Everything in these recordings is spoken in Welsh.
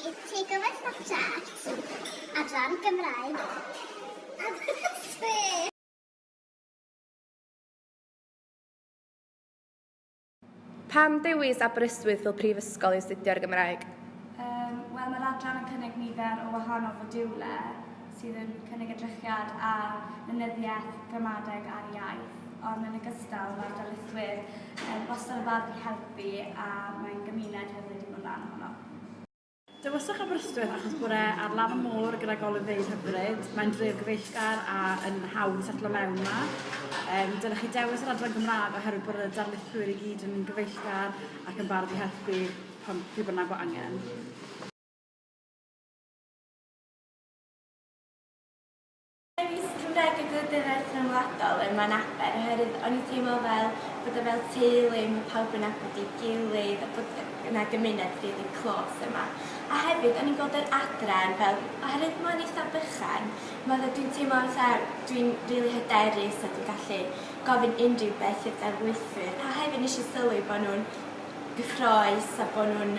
y Takeaway Snapchat adran Gymraeg Aberystwyth. Pam dewis Aberystwyth fel prifysgol i astudio'r Gymraeg? Wel, mae'r adran yn cynnig nifer o wahanol fodiwlau. sydd yn cynnig edrychiad ar lenyddiaeth, gramadeg a'r iaith, ond yn ogystal mae'r darlithwyr yn wastad yn barod i helpu a mae'n gymuned hyfryd i fod yn rhan ohono. Dewiswch Aberystwyth achos bore ar lan y môr gyda golygfeydd hyfryd, mae'n dref gyfeillgar a yn hawdd setlo mewn yma. Um, dylech chi dewis yr adran Gymraeg oherwydd bod y darlithwyr i gyd yn gyfeillgar ac yn barod i helpu pan pryd bynnag bod angen. Dewis Cymraeg y Gwladwriaeth Rhyngwladol ym Mlaen Aber oherwydd o'n i'n teimlo fel bod o fel teulu, mae pawb yn nabod ei gilydd a bod yna gymuned rili clôs yma. A hefyd o'n i'n gweld yr adran fel, oherwydd mae'n eitha' bychan, mae fel dwi'n teimlo fatha dwi'n rili hyderus a dwi'n gallu gofyn unrhyw beth i'r darlithwyr a hefyd nes i sylwi bod nhw'n gyffrous a bod nhw'n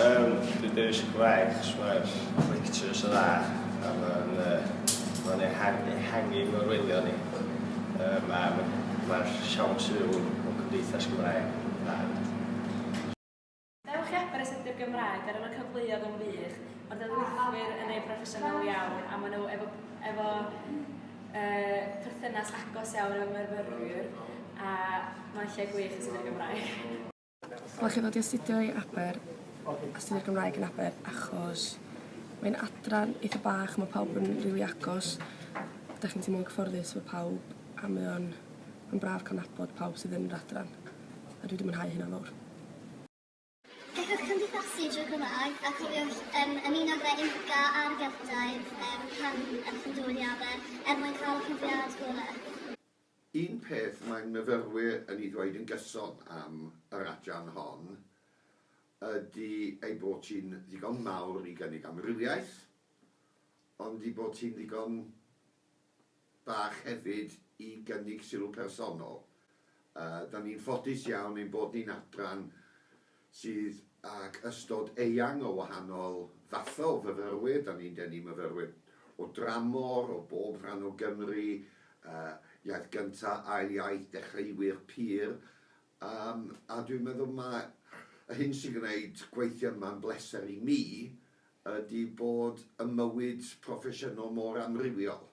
Yym, dwi dewis Cymraeg achos mae'r lectures yn dda a mae'n uh, ma ehangu, ehangu mewn wylio ni. Um, a mae'r siawns i fyw mewn cymdeithas Gymraeg yn dda. Dewch i Aberystwyth Gymraeg ar y cyfleoedd yn wych, mae'r darlithwyr yn ei broffesiynol iawn a maen nhw efo, efo uh, perthynas agos iawn efo'r myrfyrwyr a mae'n lle gwych i sydd Gymraeg. Dylech chi ddod i astudio i Aber, astudio Cymraeg yn Aber, achos mae'n adran eitha bach, mae pawb yn rili agos, dych chi'n teimlo'n cyfforddus efo pawb, a mae o'n yn braf cael nabod pawb sydd yn yr adran, a dwi wedi mwynhau hynna'n fawr. Gallwch gymdeithasu drwy Gymraeg, a cofiwch um, ymuno gyda Inca a'r Geltaidd um, pan ydych yn dod i Aber, er mwyn cael y profiad gorau. Un peth mae myfyrwyr yn ei ddweud yn gyson am yr adran hon ydy ei bod hi'n ddigon mawr i gynnig amrywiaeth, ond ei bod hi'n ddigon bach hefyd i gynnig sylw personol. Yy, 'dan ni'n ffodus iawn ein bod ni'n adran sydd ag ystod eang o wahanol fathau o fyfyrwyr, 'da ni'n denu myfyrwyr o dramor, o bob rhan o Gymru, iaith gyntaf, ail iaith, dechreuwyr pur, yym, a dwi'n meddwl mai y hyn sy'n gwneud gweithio yma'n bleser i mi ydi bod 'y mywyd proffesiynol mor amrywiol.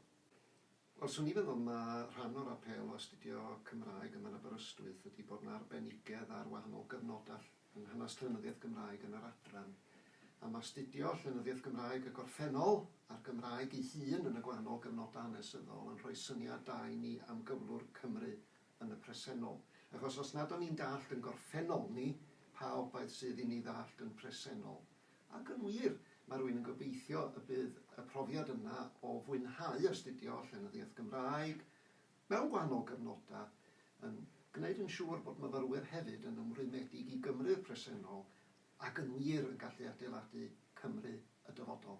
Wel, swn i'n meddwl ma' rhan o'r apêl o astudio Cymraeg ym Mhen Aberystwyth ydi bod 'na arbenigedd ar wahanol gyfnoda yng nghynas llenyddiaeth Gymraeg yn yr adran, a ma' astudio llenyddiaeth Gymraeg y gorffennol a'r Gymraeg ei hun yn y gwahanol gyfnoda hanesyddol yn rhoi syniad da i ni am gyflwr Cymru yn y presennol, achos os nad o'n ni'n dallt yn gorffennol ni pa obaith sydd i ni ddallt yn presennol. Ac yn wir, mae rwy'n yn gobeithio y bydd y profiad yna o fwynhau astudio llenyddiaeth Gymraeg mewn gwahanol gyfnodau yn gwneud yn siŵr bod myfyrwyr hefyd yn ymrwymedig i Gymru'r presennol ac yn wir yn gallu adeiladu Cymru y dyfodol.